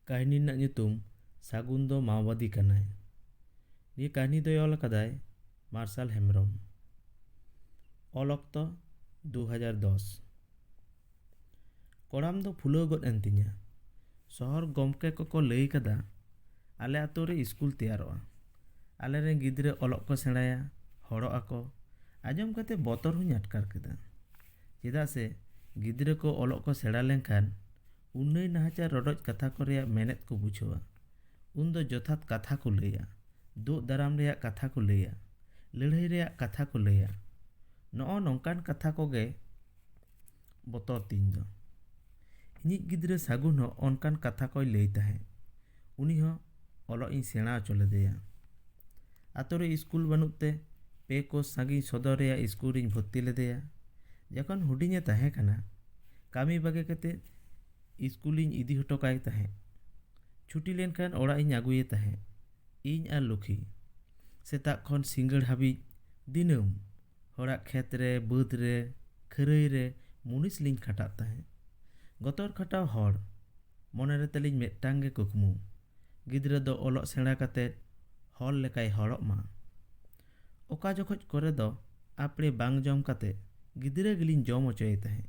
ᱠᱟᱹᱦᱱᱤ ᱨᱮᱱᱟᱜ ᱧᱩᱛᱩᱢ ᱥᱟᱹᱜᱩᱱ ᱫᱚ ᱢᱟᱣᱵᱟᱫᱤ ᱠᱟᱱᱟᱭ ᱱᱤᱭᱟᱹ ᱠᱟᱹᱦᱱᱤ ᱫᱚᱭ ᱚᱞ ᱟᱠᱟᱫᱟᱭ ᱢᱟᱨᱥᱟᱞ ᱦᱮᱢᱵᱨᱚᱢ ᱚᱞ ᱚᱠᱛᱚ ᱫᱩ ᱦᱟᱡᱟᱨ ᱫᱚᱥ ᱠᱚᱲᱟᱢ ᱫᱚ ᱯᱷᱩᱞᱟᱹᱣ ᱜᱚᱫ ᱮᱱ ᱛᱤᱧᱟᱹ ᱥᱚᱦᱚᱨ ᱜᱚᱢᱠᱮ ᱠᱚᱠᱚ ᱞᱟᱹᱭ ᱠᱟᱫᱟ ᱟᱞᱮ ᱟᱛᱳ ᱨᱮ ᱤᱥᱠᱩᱞ ᱛᱮᱭᱟᱨᱚᱜᱼᱟ ᱟᱞᱮ ᱨᱮᱱ ᱜᱤᱫᱽᱨᱟᱹ ᱚᱞᱚᱜ ᱠᱚ ᱥᱮᱬᱟᱭᱟ ᱦᱚᱲᱚᱜ ᱟᱠᱚ ᱟᱸᱡᱚᱢ ᱠᱟᱛᱮ ᱵᱚᱛᱚᱨ ᱦᱚᱸᱧ ᱟᱴᱠᱟᱨ ᱠᱮᱫᱟ ᱪᱮᱫᱟᱜ ᱥᱮ ᱜᱤᱫᱽᱨᱟᱹ ᱠᱚ ᱚᱞᱚᱜ ᱠᱚ ᱥᱮᱬᱟ ᱞᱮᱱᱠᱷᱟᱱ ᱩᱱᱟᱹᱭ ᱱᱟᱦᱟᱪᱟᱨ ᱨᱚᱰᱚᱡ ᱠᱟᱛᱷᱟ ᱠᱚ ᱨᱮᱭᱟᱜ ᱢᱮᱱᱮᱛ ᱠᱚ ᱵᱩᱡᱷᱟᱹᱣᱟ ᱩᱱ ᱫᱚ ᱡᱚᱛᱷᱟᱛ ᱠᱟᱛᱷᱟ ᱠᱚ ᱞᱟᱹᱭᱟ ᱫᱩᱜ ᱫᱟᱨᱟᱢ ᱨᱮᱭᱟᱜ ᱠᱟᱛᱷᱟ ᱠᱚ ᱞᱟᱹᱭᱟ ᱞᱟᱹᱲᱦᱟᱹᱭ ᱨᱮᱭᱟᱜ ᱠᱟᱛᱷᱟ ᱠᱚ ᱞᱟᱹᱭᱟ ᱱᱚᱜᱼᱚ ᱱᱚᱝᱠᱟᱱ ᱠᱟᱛᱷᱟ ᱠᱚᱜᱮ ᱵᱚᱛᱚᱨ ᱛᱤᱧ ᱫᱚ ᱤᱧᱤᱡ ᱜᱤᱫᱽᱨᱟᱹ ᱥᱟᱹᱜᱩᱱ ᱦᱚᱸ ᱚᱱᱠᱟᱱ ᱠᱟᱛᱷᱟ ᱠᱚᱭ ᱞᱟᱹᱭ ᱛᱟᱦᱮᱸᱫ ᱩᱱᱤ ᱦᱚᱸ ᱚᱞᱚᱜ ᱤᱧ ᱥᱮᱬᱟ ᱦᱚᱪᱚ ᱞᱮᱫᱮᱭᱟ ᱟᱛᱳ ᱨᱮ ᱤᱥᱠᱩᱞ ᱵᱟᱹᱱᱩᱜ ᱛᱮ ᱯᱮ ᱠᱳᱥ ᱥᱟᱺᱜᱤᱧ ᱥᱚᱫᱚᱨ ᱨᱮᱭᱟᱜ ᱤᱥᱠᱩᱞ ᱨᱤᱧ ᱵᱷᱚᱨᱛᱤ ᱞᱮᱫᱮᱭᱟ ᱡᱚᱠᱷᱚᱱ ᱦᱩᱰᱤᱧᱮ ᱛᱟᱦᱮᱸ ᱠᱟᱱᱟ ᱠᱟᱹᱢᱤ ᱵᱟᱹᱜᱤ ᱠᱟᱛᱮ ᱤᱥᱠᱩᱞᱤᱧ ᱤᱫᱤ ᱦᱚᱴᱚ ᱠᱟᱭ ᱛᱟᱦᱮᱸᱫ ᱪᱷᱩᱴᱤ ᱞᱮᱱᱠᱷᱟᱱ ᱚᱲᱟᱜ ᱤᱧ ᱟᱹᱜᱩᱭᱮ ᱛᱟᱦᱮᱸᱫ ᱤᱧ ᱟᱨ ᱞᱩᱠᱷᱤ ᱥᱮᱛᱟᱜ ᱠᱷᱚᱱ ᱥᱤᱸᱜᱟᱹᱲ ᱦᱟᱹᱵᱤᱡ ᱫᱤᱱᱟᱹᱢ ᱦᱚᱲᱟᱜ ᱠᱷᱮᱛ ᱨᱮ ᱵᱟᱹᱫᱽ ᱨᱮ ᱠᱷᱟᱹᱨᱟᱹᱭ ᱨᱮ ᱢᱩᱱᱤᱥ ᱞᱤᱧ ᱠᱷᱟᱴᱟᱜ ᱛᱟᱦᱮᱸᱫ ᱜᱚᱛᱚᱨ ᱠᱷᱟᱴᱟᱣ ᱦᱚᱲ ᱢᱚᱱᱮ ᱨᱮ ᱛᱟᱹᱞᱤᱧ ᱢᱤᱫᱴᱟᱝ ᱜᱮ ᱠᱩᱠᱢᱩ ᱜᱤᱫᱽᱨᱟᱹ ᱫᱚ ᱚᱞᱚᱜ ᱥᱮᱬᱟ ᱠᱟᱛᱮᱫ ᱦᱚᱲ ᱞᱮᱠᱟᱭ ᱦᱚᱲᱚᱜ ᱢᱟ ᱚᱠᱟ ᱡᱚᱠᱷᱚᱡ ᱠᱚᱨᱮ ᱫᱚ ᱟᱯᱲᱮ ᱵᱟᱝ ᱡᱚᱢ ᱠᱟᱛᱮᱫ ᱜᱤᱫᱽᱨᱟᱹ ᱜᱮᱞᱤᱧ ᱡᱚᱢ ᱦᱚᱪᱚᱭᱮ ᱛᱟᱦᱮᱸᱫ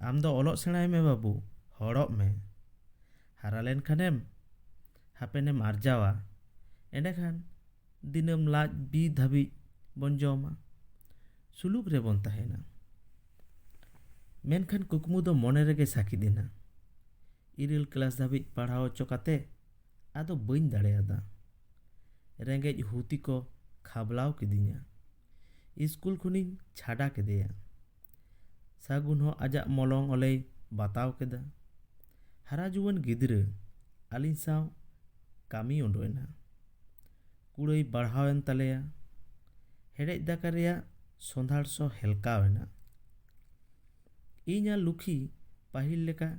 ᱟᱢ ᱫᱚ ᱚᱞᱚᱜ ᱥᱮᱬᱟᱭ ᱢᱮ ᱵᱟᱹᱵᱩ ᱦᱚᱲᱚᱜ ᱢᱮ ᱦᱟᱨᱟ ᱞᱮᱱᱠᱷᱟᱱᱮᱢ ᱦᱟᱯᱮᱱᱮᱢ ᱟᱨᱡᱟᱣᱟ ᱮᱸᱰᱮᱠᱷᱟᱱ ᱫᱤᱱᱟᱹᱢ ᱞᱟᱡ ᱵᱤ ᱫᱷᱟᱹᱵᱤᱡ ᱵᱚᱱ ᱡᱚᱢᱟ ᱥᱩᱞᱩᱠ ᱨᱮᱵᱚᱱ ᱛᱟᱦᱮᱱᱟ ᱢᱮᱱᱠᱷᱟᱱ ᱠᱩᱠᱢᱩ ᱫᱚ ᱢᱚᱱᱮ ᱨᱮᱜᱮ ᱥᱟᱹᱠᱤᱫ ᱮᱱᱟ ᱤᱨᱟᱹᱞ ᱠᱞᱟᱥ ᱫᱷᱟᱹᱵᱤᱡ ᱯᱟᱲᱦᱟᱣ ᱦᱚᱪᱚ ᱠᱟᱛᱮ ᱟᱫᱚ ᱵᱟᱹᱧ ᱫᱟᱲᱮᱭᱟᱫᱟ ᱨᱮᱸᱜᱮᱡ ᱦᱩᱛᱤ ᱠᱚ ᱠᱷᱟᱵᱽᱞᱟᱣ ᱠᱤᱫᱤᱧᱟ ᱤᱥᱠᱩᱞ ᱠᱷᱚᱱᱤᱧ ᱪᱷᱟᱰᱟ ᱠᱮᱫᱮᱭᱟ ᱥᱟᱹᱜᱩᱱ ᱦᱚᱸ ᱟᱡᱟᱜ ᱢᱚᱞᱚᱝ ᱚᱞᱮᱭ ᱵᱟᱛᱟᱣ ᱠᱮᱫᱟ ᱦᱟᱨᱟ ᱡᱩᱣᱟᱹᱱ ᱜᱤᱫᱽᱨᱟᱹ ᱟᱹᱞᱤᱧ ᱥᱟᱶ ᱠᱟᱹᱢᱤ ᱩᱰᱩᱠ ᱮᱱᱟ ᱠᱩᱲᱟᱹᱭ ᱵᱟᱲᱦᱟᱣ ᱮᱱ ᱛᱟᱞᱮᱭᱟ ᱦᱮᱰᱮᱡ ᱫᱟᱠᱟ ᱨᱮᱭᱟᱜ ᱥᱚᱸᱫᱷᱟᱲ ᱥᱚ ᱦᱮᱞᱠᱟᱣ ᱮᱱᱟ ᱤᱧ ᱟᱨ ᱞᱩᱠᱷᱤ ᱯᱟᱹᱦᱤᱞ ᱞᱮᱠᱟ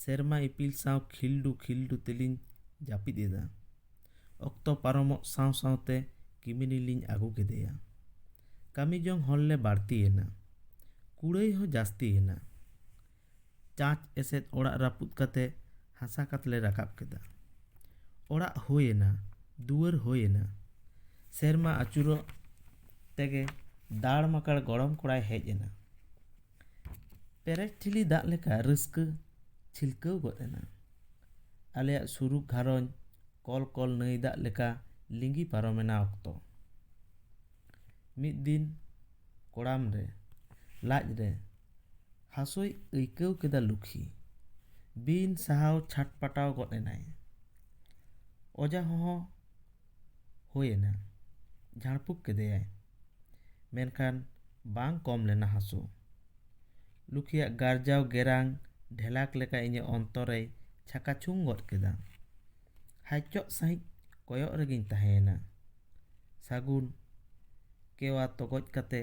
ᱥᱮᱨᱢᱟ ᱤᱯᱤᱞ ᱥᱟᱶ ᱠᱷᱤᱞᱰᱩ ᱠᱷᱤᱞᱰᱩ ᱛᱮᱞᱤᱧ ᱡᱟᱹᱯᱤᱫ ᱮᱫᱟ ᱚᱠᱛᱚ ᱯᱟᱨᱚᱢᱚᱜ ᱥᱟᱶ ᱥᱟᱶᱛᱮ ᱠᱤᱢᱤᱱᱤ ᱞᱤᱧ ᱟᱹᱜᱩ ᱠᱮᱫᱮᱭᱟ ᱠᱟᱹᱢᱤ ᱡᱚᱝ ᱦᱚᱲ ᱞᱮ ᱵᱟᱹᱲᱛᱤ ᱮᱱᱟ ᱠᱩᱲᱟᱹᱭ ᱦᱚᱸ ᱡᱟᱹᱥᱛᱤ ᱮᱱᱟ ᱪᱟᱥ ᱮᱥᱮᱫ ᱚᱲᱟᱜ ᱨᱟᱹᱯᱩᱫ ᱠᱟᱛᱮ ᱦᱟᱥᱟ ᱠᱟᱛ ᱞᱮ ᱨᱟᱠᱟᱵ ᱠᱮᱫᱟ ᱚᱲᱟᱜ ᱦᱩᱭ ᱮᱱᱟ ᱫᱩᱣᱟᱹᱨ ᱦᱩᱭ ᱮᱱᱟ ᱥᱮᱨᱢᱟ ᱟᱹᱪᱩᱨᱚᱜ ᱛᱮᱜᱮ ᱫᱟᱲ ᱢᱟᱠᱟᱲ ᱜᱚᱲᱚᱢ ᱠᱚᱲᱟᱭ ᱦᱮᱡ ᱮᱱᱟ ᱯᱮᱨᱮᱡ ᱴᱷᱤᱞᱤ ᱫᱟᱜ ᱞᱮᱠᱟ ᱨᱟᱹᱥᱠᱟᱹ ᱪᱷᱤᱞᱠᱟᱹᱣ ᱜᱚᱫ ᱮᱱᱟ ᱟᱞᱮᱭᱟᱜ ᱥᱩᱨᱩᱜ ᱜᱷᱟᱨᱚᱸᱡᱽ ᱠᱚᱞ ᱠᱚᱞ ᱱᱟᱹᱭ ᱫᱟᱜ ᱞᱮᱠᱟ ᱞᱤᱸᱜᱤ ᱯᱟᱨᱚᱢ ᱮᱱᱟ ᱚᱠᱛᱚ ᱢᱤᱫ ᱫᱤᱱ ᱠᱚᱲᱟᱢ ᱨᱮ ᱞᱟᱡ ᱨᱮ ᱦᱟᱹᱥᱩᱭ ᱟᱹᱭᱠᱟᱹᱣ ᱠᱮᱫᱟ ᱞᱩᱠᱷᱤ ᱵᱤᱱ ᱥᱟᱦᱟᱣ ᱪᱷᱟᱴᱯᱟᱴᱟᱣ ᱜᱚᱫ ᱮᱱᱟᱭ ᱚᱡᱷᱟ ᱦᱚᱦᱚ ᱦᱩᱭ ᱮᱱᱟ ᱡᱷᱟᱲ ᱯᱷᱩᱸᱠ ᱠᱮᱫᱮᱭᱟᱭ ᱢᱮᱱᱠᱷᱟᱱ ᱵᱟᱝ ᱠᱚᱢ ᱞᱮᱱᱟ ᱦᱟᱹᱥᱩ ᱞᱩᱠᱷᱤᱭᱟᱜ ᱜᱟᱨᱡᱟᱣ ᱜᱮᱨᱟᱝ ᱰᱷᱮᱞᱟᱠ ᱞᱮᱠᱟ ᱤᱧᱟᱹᱜ ᱚᱱᱛᱚᱨ ᱨᱮᱭ ᱪᱷᱟᱠᱟ ᱪᱷᱩᱝ ᱜᱚᱫ ᱠᱮᱫᱟ ᱦᱟᱭᱪᱚᱜ ᱥᱟᱺᱦᱤᱡ ᱠᱚᱭᱚᱜ ᱨᱮᱜᱮᱧ ᱛᱟᱦᱮᱸᱭᱮᱱᱟ ᱥᱟᱹᱜᱩᱱ ᱠᱮᱣᱟ ᱛᱚᱜᱚᱡ ᱠᱟᱛᱮ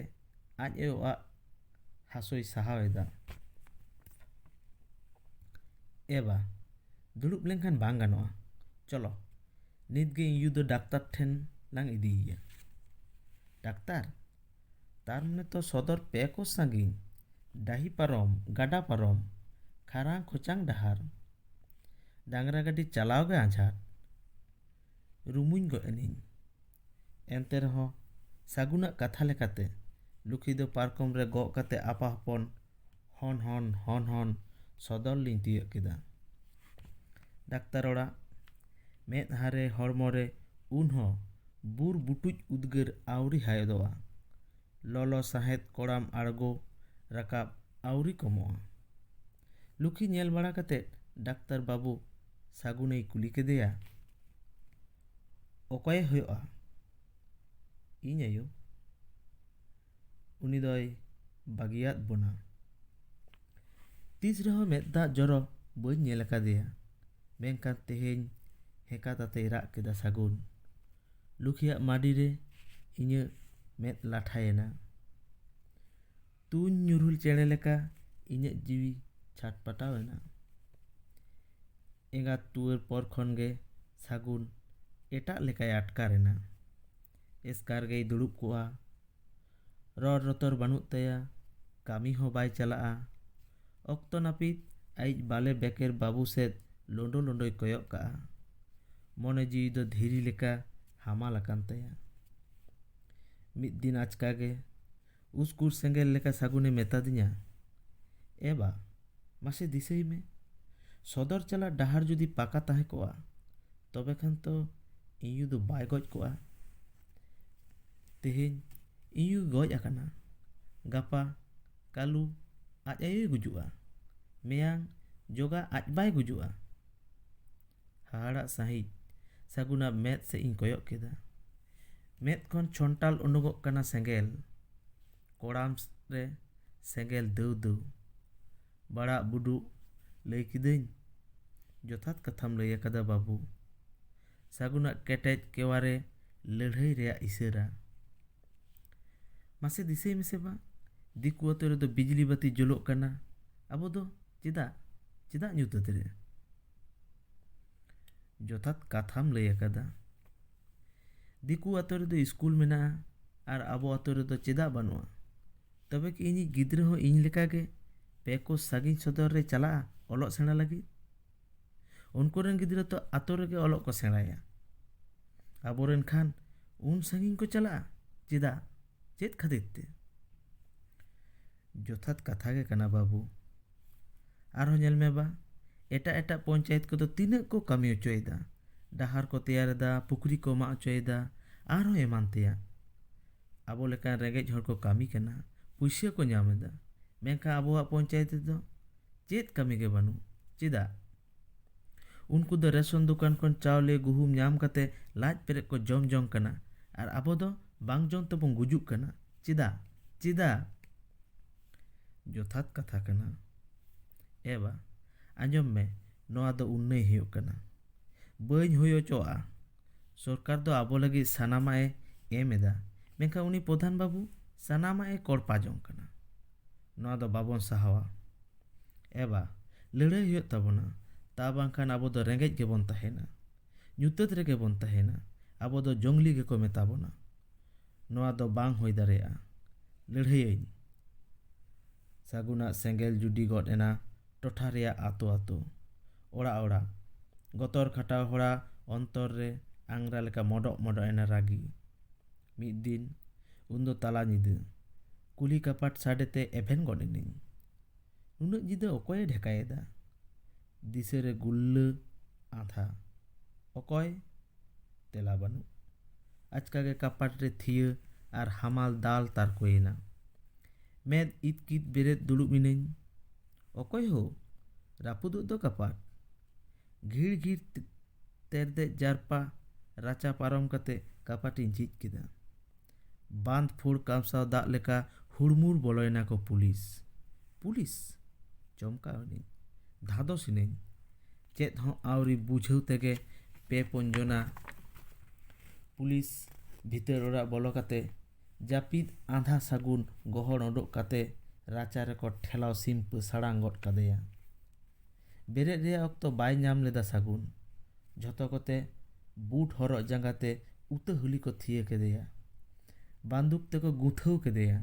ᱟᱡ ᱟᱭᱳᱣᱟᱜ ᱦᱟᱹᱥᱩᱭ ᱥᱟᱦᱟᱣ ᱮᱫᱟ ᱮᱵᱟ ᱫᱩᱲᱩᱵ ᱞᱮᱱᱠᱷᱟᱱ ᱵᱟᱝ ᱜᱟᱱᱚᱜᱼᱟ ᱪᱚᱞᱚ ᱱᱤᱛ ᱜᱮ ᱤᱧ ᱭᱩ ᱫᱚ ᱰᱟᱠᱛᱟᱨ ᱴᱷᱮᱱ ᱞᱟᱝ ᱤᱫᱤᱭᱮᱭᱟ ᱰᱟᱠᱛᱟᱨ ᱛᱟᱨ ᱢᱟᱱᱮ ᱛᱚ ᱥᱚᱫᱚᱨ ᱯᱮ ᱠᱳᱥ ᱥᱟᱺᱜᱤᱧ ᱰᱟᱹᱦᱤ ᱯᱟᱨᱚᱢ ᱜᱟᱰᱟ ᱯᱟᱨᱚᱢ ᱠᱷᱟᱨᱟᱝ ᱠᱷᱚᱪᱟᱝ ᱰᱟᱦᱟᱨ ᱰᱟᱝᱨᱟ ᱜᱟᱹᱰᱤ ᱪᱟᱞᱟᱣ ᱜᱮ ᱟᱸᱡᱷᱟᱴ ᱨᱩᱢᱩᱧ ᱜᱚᱡ ᱮᱱᱟᱹᱧ ᱮᱱᱛᱮ ᱨᱮᱦᱚᱸ ᱥᱟᱹᱜᱩᱱᱟᱜ ᱠᱟᱛᱷᱟ ᱞᱮᱠᱟᱛᱮ ᱞᱩᱠᱷᱤ ᱫᱚ ᱯᱟᱨᱠᱚᱢ ᱨᱮ ᱜᱚᱜ ᱠᱟᱛᱮ ᱟᱯᱟ ᱦᱚᱯᱚᱱ ᱦᱚᱱ ᱦᱚᱱ ᱦᱚᱱ ᱦᱚᱱ ᱥᱚᱫᱚᱨ ᱞᱤᱧ ᱛᱤᱭᱟᱹᱜ ᱠᱮᱫᱟ ᱰᱟᱠᱛᱟᱨ ᱚᱲᱟᱜ ᱢᱮᱫᱦᱟ ᱨᱮ ᱦᱚᱲᱢᱚ ᱨᱮ ᱩᱱ ᱦᱚᱸ ᱵᱩᱨ ᱵᱩᱴᱩᱡ ᱩᱫᱽᱜᱟᱹᱨ ᱟᱹᱣᱨᱤ ᱦᱟᱭᱚᱫᱚᱜᱼᱟ ᱞᱚᱞᱚ ᱥᱟᱦᱮᱫ ᱠᱚᱲᱟᱢ ᱟᱬᱜᱚ ᱨᱟᱠᱟᱵ ᱟᱹᱣᱨᱤ ᱠᱚᱢᱚᱜᱼᱟ ᱞᱩᱠᱷᱤ ᱧᱮᱞ ᱵᱟᱲᱟ ᱠᱟᱛᱮ ᱰᱟᱠᱛᱟᱨ ᱵᱟᱹᱵᱩ ᱥᱟᱹᱜᱩᱱᱮᱭ ᱠᱩᱞᱤ ᱠᱮᱫᱮᱭᱟ ᱚᱠᱚᱭᱮ ᱦᱩᱭᱩᱜᱼᱟ ᱤᱧ ᱟᱭᱳ ᱩᱱᱤ ᱫᱚᱭ ᱵᱟᱹᱜᱤᱭᱟᱫ ᱵᱚᱱᱟ ᱛᱤᱥ ᱨᱮᱦᱚᱸ ᱢᱮᱫ ᱫᱟᱜ ᱡᱚᱨᱚ ᱵᱟᱹᱧ ᱧᱮᱞ ᱟᱠᱟᱫᱮᱭᱟ ᱢᱮᱱᱠᱷᱟᱱ ᱛᱮᱦᱮᱧ ᱦᱮᱸᱠᱟ ᱛᱟᱛᱮᱭ ᱨᱟᱜ ᱠᱮᱫᱟ ᱥᱟᱹᱜᱩᱱ ᱞᱩᱠᱷᱤᱭᱟᱜ ᱢᱟᱹᱰᱤ ᱨᱮ ᱤᱧᱟᱹᱜ ᱢᱮᱫ ᱞᱟᱴᱷᱟᱭᱮᱱᱟ ᱛᱩᱧ ᱧᱩᱨᱦᱩ ᱪᱮᱬᱮ ᱞᱮᱠᱟ ᱤᱧᱟᱹᱜ ᱡᱤᱣᱤ ᱪᱷᱟᱴ ᱯᱟᱴᱟᱣ ᱮᱱᱟ ᱮᱸᱜᱟᱛ ᱴᱩᱣᱟᱹᱨ ᱯᱚᱨ ᱠᱷᱚᱱ ᱜᱮ ᱥᱟᱹᱜᱩᱱ ᱮᱴᱟᱜ ᱞᱮᱠᱟᱭ ᱟᱴᱠᱟᱨ ᱮᱱᱟ ᱮᱥᱠᱟᱨ ᱜᱮᱭ ᱫᱩᱲᱩᱵ ᱠᱚᱜᱼᱟ ᱨᱚᱲ ᱨᱚᱛᱚᱲ ᱵᱟᱹᱱᱩᱜ ᱛᱟᱭᱟ ᱠᱟᱹᱢᱤ ᱦᱚᱸ ᱵᱟᱭ ᱪᱟᱞᱟᱜᱼᱟ ᱚᱠᱛᱚ ᱱᱟᱹᱯᱤᱛ ᱟᱭᱤᱡ ᱵᱟᱞᱮ ᱵᱮᱠᱮᱨ ᱵᱟᱹᱵᱩ ᱥᱮᱫ ᱞᱳᱰᱳ ᱞᱳᱰᱳᱭ ᱠᱚᱭᱚᱜ ᱠᱟᱜᱼᱟ ᱢᱚᱱᱮ ᱡᱤᱣᱤ ᱫᱚ ᱫᱷᱤᱨᱤ ᱞᱮᱠᱟ ᱦᱟᱢᱟᱞ ᱟᱠᱟᱱ ᱛᱟᱭᱟ ᱢᱤᱫ ᱫᱤᱱ ᱟᱪᱠᱟ ᱜᱮ ᱩᱥᱠᱩᱨ ᱥᱮᱸᱜᱮᱞ ᱞᱮᱠᱟ ᱥᱟᱹᱜᱩᱱ ᱮ ᱢᱮᱛᱟᱫᱤᱧᱟ, ᱮ ᱵᱟ, ᱢᱟᱥᱮ ᱫᱤᱥᱟᱹᱭ ᱢᱮ, ᱥᱚᱫᱚᱨ ᱪᱟᱞᱟᱜ ᱰᱟᱦᱟᱨ ᱡᱩᱫᱤ ᱯᱟᱠᱟ ᱛᱟᱦᱮᱸ ᱠᱚᱜᱼᱟ, ᱛᱚᱵᱮ ᱠᱷᱟᱱ ᱛᱚ ᱤᱧᱭᱩ ᱫᱚ ᱵᱟᱭ ᱜᱚᱡ ᱠᱚᱜᱼᱟ᱾ ᱛᱮᱦᱮᱧ ᱤᱧᱭᱩᱭ ᱜᱚᱡ ᱟᱠᱟᱱᱟ, ᱜᱟᱯᱟ, ᱠᱟᱹᱞᱩ, ᱟᱡ ᱟᱭᱳᱭ ᱜᱩᱡᱩᱜᱼᱟ᱾ ᱢᱮᱭᱟᱝ, ᱡᱚᱜᱟ ᱟᱡ ᱵᱟᱭ ᱜᱩᱡᱩᱜᱼᱟ᱾ ᱦᱟᱦᱟᱲᱟᱜ ᱥᱟᱺᱦᱤᱡ ᱥᱟᱹᱜᱩᱱᱟᱜ ᱢᱮᱫ ᱥᱮᱫ ᱤᱧ ᱠᱚᱭᱚᱜ ᱠᱮᱫᱟ ᱢᱮᱫ ᱠᱷᱚᱱ ᱪᱷᱚᱱᱴᱟᱞ ᱩᱰᱩᱠᱚᱜ ᱠᱟᱱᱟ ᱥᱮᱸᱜᱮᱞ ᱠᱚᱲᱟᱢ ᱨᱮ ᱥᱮᱸᱜᱮᱞ ᱫᱟᱹᱣ ᱫᱟᱹᱣ ᱵᱟᱲᱟᱜ ᱵᱩᱰᱩᱜ ᱞᱟᱹᱭ ᱠᱤᱫᱟᱹᱧ ᱡᱚᱛᱷᱟᱛ ᱠᱟᱛᱷᱟᱢ ᱞᱟᱹᱭ ᱟᱠᱟᱫᱟ ᱵᱟᱹᱵᱩ ᱥᱟᱹᱜᱩᱱᱟᱜ ᱠᱮᱴᱮᱡ ᱠᱮᱣᱟ ᱨᱮ ᱞᱟᱹᱲᱦᱟᱹᱭ ᱨᱮᱭᱟᱜ ᱤᱥᱟᱹᱨᱟ ᱢᱟᱥᱮ ᱫᱤᱥᱟᱹᱭ ᱢᱮᱥᱮ ᱵᱟ ᱫᱤᱠᱩ ᱟᱛᱳ ᱨᱮᱫᱚ ᱵᱤᱡᱽᱞᱤ ᱵᱟᱹᱛᱤ ᱡᱩᱞᱩᱜ ᱠᱟᱱᱟ ᱟᱵᱚ ᱫᱚ ᱪᱮᱫᱟᱜ ᱪᱮᱫᱟᱜ ᱧᱩᱛᱟᱹᱛ ᱨᱮ ᱡᱚᱛᱷᱟᱛ ᱠᱟᱛᱷᱟᱢ ᱞᱟᱹᱭ ᱟᱠᱟᱫᱟ ᱫᱤᱠᱩ ᱟᱛᱳ ᱨᱮᱫᱚ ᱤᱥᱠᱩᱞ ᱢᱮᱱᱟᱜᱼᱟ ᱟᱨ ᱟᱵᱚ ᱟᱛᱳ ᱨᱮᱫᱚ ᱪᱮᱫᱟᱜ ᱵᱟᱹᱱᱩᱜᱼᱟ ᱛᱚᱵᱮ ᱠᱤ ᱤᱧᱤᱡ ᱜᱤᱫᱽᱨᱟᱹ ᱦᱚᱸ ᱤᱧ ᱞᱮᱠᱟ ᱜᱮ ᱯᱮ ᱠᱳᱥ ᱥᱟᱺᱜᱤᱧ ᱥᱚᱫᱚᱨ ᱨᱮ ᱪᱟᱞᱟᱜᱼᱟ ᱚᱞᱚᱜ ᱥᱮᱬᱟ ᱞᱟᱹᱜᱤᱫ ᱩᱱᱠᱩ ᱨᱮᱱ ᱜᱤᱫᱽᱨᱟᱹ ᱛᱚ ᱟᱛᱳ ᱨᱮᱜᱮ ᱚᱞᱚᱜ ᱠᱚ ᱥᱮᱬᱟᱭᱟ ᱟᱵᱚ ᱨᱮᱱ ᱠᱷᱟᱱ ᱩᱱ ᱥᱟᱺᱜᱤᱧ ᱠᱚ ᱪᱟᱞᱟᱜᱼᱟ ᱪᱮᱫᱟᱜ ᱪᱮᱫ ᱠᱷᱟᱹᱛᱤᱨ ᱛᱮ ᱡᱚᱛᱷᱟᱛ ᱠᱟᱛᱷᱟ ᱜᱮ ᱠᱟᱱᱟ ᱵᱟᱹᱵᱩ ᱟᱨᱦᱚᱸ ᱧᱮᱞ ᱢᱮ ᱵᱟ ᱮᱴᱟᱜ ᱮᱴᱟᱜ ᱯᱚᱧᱪᱟᱭᱮᱛ ᱠᱚᱫᱚ ᱛᱤᱱᱟᱹᱜ ᱠᱚ ᱠᱟᱹᱢᱤ ᱦᱚᱪᱚᱭᱮᱫᱟ ᱰᱟᱦᱟᱨ ᱠᱚ ᱛᱮᱭᱟᱨ ᱮᱫᱟ ᱯᱩᱠᱷᱨᱤ ᱠᱚ ᱢᱟᱜ ᱦᱚᱪᱚᱭᱮᱫᱟ ᱟᱨᱦᱚᱸ ᱮᱢᱟᱱ ᱛᱮᱭᱟᱜ ᱟᱵᱚ ᱞᱮᱠᱟᱱ ᱨᱮᱸᱜᱮᱡ ᱦᱚᱲ ᱠᱚ ᱠᱟᱹᱢᱤ ᱠᱟᱱᱟ ᱯᱩᱭᱥᱟᱹ ᱠᱚ ᱧᱟᱢ ᱮᱫᱟ ᱢᱮᱱᱠᱷᱟᱱ ᱟᱵᱚᱣᱟᱜ ᱯᱚᱧᱪᱟᱭᱮᱛ ᱨᱮᱫᱚ ᱪᱮᱫ ᱠᱟᱹᱢᱤ ᱜᱮ ᱵᱟᱹᱱᱩᱜ ᱪᱮᱫᱟᱜ ᱩᱱᱠᱩ ᱫᱚ ᱨᱮᱥᱚᱱ ᱫᱚᱠᱟᱱ ᱠᱷᱚᱱ ᱪᱟᱣᱞᱮ ᱜᱩᱦᱩᱢ ᱧᱟᱢ ᱠᱟᱛᱮ ᱞᱟᱡ ᱯᱮᱨᱮᱡ ᱠᱚ ᱡᱚᱢ ᱡᱚᱝ ᱠᱟᱱᱟ ᱟᱨ ᱟᱵᱚ ᱫᱚ ᱵᱟᱝ ᱡᱚᱢ ᱛᱮᱵᱚᱱ ᱜᱩᱡᱩᱜ ᱠᱟᱱᱟ ᱪᱮᱫᱟᱜ ᱪᱮᱫᱟᱜ ᱡᱚᱛᱷᱟᱛ ᱠᱟᱛᱷᱟ ᱠᱟᱱᱟ ᱮ ᱵᱟ ᱟᱸᱡᱚᱢ ᱢᱮ ᱱᱚᱣᱟ ᱫᱚ ᱩᱱᱱᱟᱹᱭ ᱦᱩᱭᱩᱜ ᱠᱟᱱᱟ ᱵᱟᱹᱧ ᱦᱩᱭ ᱦᱚᱪᱚᱣᱟᱜᱼᱟ ᱥᱚᱨᱠᱟᱨ ᱫᱚ ᱟᱵᱚ ᱞᱟᱹᱜᱤᱫ ᱥᱟᱱᱟᱢᱟᱜ ᱮ ᱮᱢ ᱮᱫᱟ ᱢᱮᱱᱠᱷᱟᱱ ᱩᱱᱤ ᱯᱨᱚᱫᱷᱟᱱ ᱵᱟᱹᱵᱩ ᱥᱟᱱᱟᱢᱟᱜ ᱮ ᱠᱚᱨᱯᱟ ᱡᱚᱝ ᱠᱟᱱᱟ ᱱᱚᱣᱟ ᱫᱚ ᱵᱟᱵᱚᱱ ᱥᱟᱦᱟᱣᱟ ᱮᱵᱟ ᱞᱟᱹᱲᱦᱟᱹᱭ ᱦᱩᱭᱩᱜ ᱛᱟᱵᱚᱱᱟ ᱛᱟ ᱵᱟᱝᱠᱷᱟᱱ ᱟᱵᱚ ᱫᱚ ᱨᱮᱸᱜᱮᱡ ᱜᱮᱵᱚᱱ ᱛᱟᱦᱮᱱᱟ ᱧᱩᱛᱟᱹᱛ ᱨᱮᱜᱮ ᱵᱚᱱ ᱛᱟᱦᱮᱱᱟ ᱟᱵᱚ ᱫᱚ ᱡᱚᱝᱞᱤ ᱜᱮᱠᱚ ᱢᱮᱛᱟ ᱵᱚᱱᱟ ᱱᱚᱣᱟ ᱫᱚ ᱵᱟᱝ ᱦᱩᱭ ᱫᱟᱲᱮᱭᱟᱜᱼᱟ ᱞᱟᱹᱲᱦᱟᱹᱭᱟᱹᱧ ᱥᱟᱹᱜᱩᱱᱟᱜ ᱥᱮᱸᱜᱮᱞ ᱡᱩᱰᱤ ᱜᱚᱫ ᱮᱱᱟ ᱴᱚᱴᱷᱟ ᱨᱮᱭᱟᱜ ᱟᱛᱳ ᱟᱛᱳ ᱚᱲᱟᱜ ᱚᱲᱟᱜ ᱜᱚᱛᱚᱨ ᱠᱷᱟᱴᱟᱣ ᱦᱚᱲᱟ ᱚᱱᱛᱚᱨ ᱨᱮ ᱟᱝᱨᱟ ᱞᱮᱠᱟ ᱢᱚᱰᱚᱜ ᱢᱚᱰᱚᱜ ᱮᱱᱟ ᱨᱟᱹᱜᱤ ᱢᱤᱫ ᱫᱤᱱ ᱩᱱᱫᱚ ᱛᱟᱞᱟ ᱧᱤᱫᱟᱹ ᱠᱩᱞᱦᱤ ᱠᱟᱯᱟᱴ ᱥᱟᱰᱮ ᱛᱮ ᱮᱵᱷᱮᱱ ᱜᱚᱫ ᱮᱱᱟᱹᱧ ᱱᱩᱱᱟᱹᱜ ᱧᱤᱫᱟᱹ ᱚᱠᱚᱭᱮ ᱰᱷᱮᱠᱟᱭᱮᱫᱟ ᱫᱤᱥᱟᱹ ᱨᱮ ᱜᱩᱞᱞᱟᱹ ᱟᱸᱫᱷᱟ ᱚᱠᱚᱭ ᱛᱮᱞᱟ ᱵᱟᱹᱱᱩᱜ ᱟᱪᱠᱟ ᱜᱮ ᱠᱟᱯᱟᱴ ᱨᱮ ᱛᱷᱤᱭᱟᱹ ᱟᱨ ᱦᱟᱢᱟᱞ ᱫᱟᱞ ᱛᱟᱨᱠᱚᱭᱮᱱᱟ ᱢᱮᱫ ᱤᱛᱠᱤᱛ ᱵᱮᱨᱮᱫ ᱫᱩᱲᱩᱵ ᱮᱱᱟᱹᱧ ᱚᱠᱚᱭ ᱦᱳ ᱨᱟᱹᱯᱩᱫᱚᱜ ᱫᱚ ᱠᱟᱯᱟᱴ ᱜᱷᱤᱲ ᱜᱷᱤᱲ ᱛᱮᱨᱫᱮᱡ ᱡᱟᱨᱯᱟ ᱨᱟᱪᱟ ᱯᱟᱨᱚᱢ ᱠᱟᱛᱮ ᱠᱟᱯᱟᱴ ᱤᱧ ᱡᱷᱤᱡ ᱠᱮᱫᱟ ᱵᱟᱸᱫᱽ ᱯᱷᱩᱲ ᱠᱟᱢᱥᱟᱣ ᱫᱟᱜ ᱞᱮᱠᱟ ᱦᱩᱲᱢᱩᱲ ᱵᱚᱞᱚᱭᱮᱱᱟ ᱠᱚ ᱯᱩᱞᱤᱥ ᱯᱩᱞᱤᱥ ᱪᱚᱢᱠᱟᱣ ᱮᱱᱟᱹᱧ ᱫᱷᱟᱫᱚᱥ ᱮᱱᱟᱹᱧ ᱪᱮᱫ ᱦᱚᱸ ᱟᱹᱣᱨᱤ ᱵᱩᱡᱷᱟᱹᱣ ᱛᱮᱜᱮ ᱯᱮ ᱯᱩᱱ ᱡᱚᱱᱟ ᱯᱩᱞᱤᱥ ᱵᱷᱤᱛᱟᱹᱨ ᱚᱲᱟᱜ ᱵᱚᱞᱚ ᱠᱟᱛᱮ ᱡᱟᱹᱯᱤᱫ ᱟᱸᱫᱷᱟ ᱥᱟᱹᱜᱩᱱ ᱜᱚᱦᱚᱲ ᱩᱰᱩᱠ ᱠᱟᱛᱮ ᱨᱟᱪᱟ ᱨᱮᱠᱚ ᱴᱷᱮᱞᱟᱣ ᱥᱤᱢᱯᱟᱹ ᱥᱟᱲᱟᱝ ᱜᱚᱫ ᱠᱟᱫᱮᱭᱟ ᱵᱮᱨᱮᱫ ᱨᱮᱭᱟᱜ ᱚᱠᱛᱚ ᱵᱟᱭ ᱧᱟᱢ ᱞᱮᱫᱟ ᱥᱟᱹᱜᱩᱱ᱾ ᱡᱷᱚᱛᱚ ᱠᱚᱛᱮ ᱵᱩᱴ ᱦᱚᱨᱚᱜ ᱡᱟᱸᱜᱟ ᱛᱮ ᱩᱛᱟᱹ ᱦᱩᱞᱤ ᱠᱚ ᱛᱷᱤᱭᱟᱹ ᱠᱮᱫᱮᱭᱟ᱾ ᱵᱟᱱᱫᱩᱠ ᱛᱮᱠᱚ ᱜᱩᱸᱛᱷᱟᱹᱣ ᱠᱮᱫᱮᱭᱟ᱾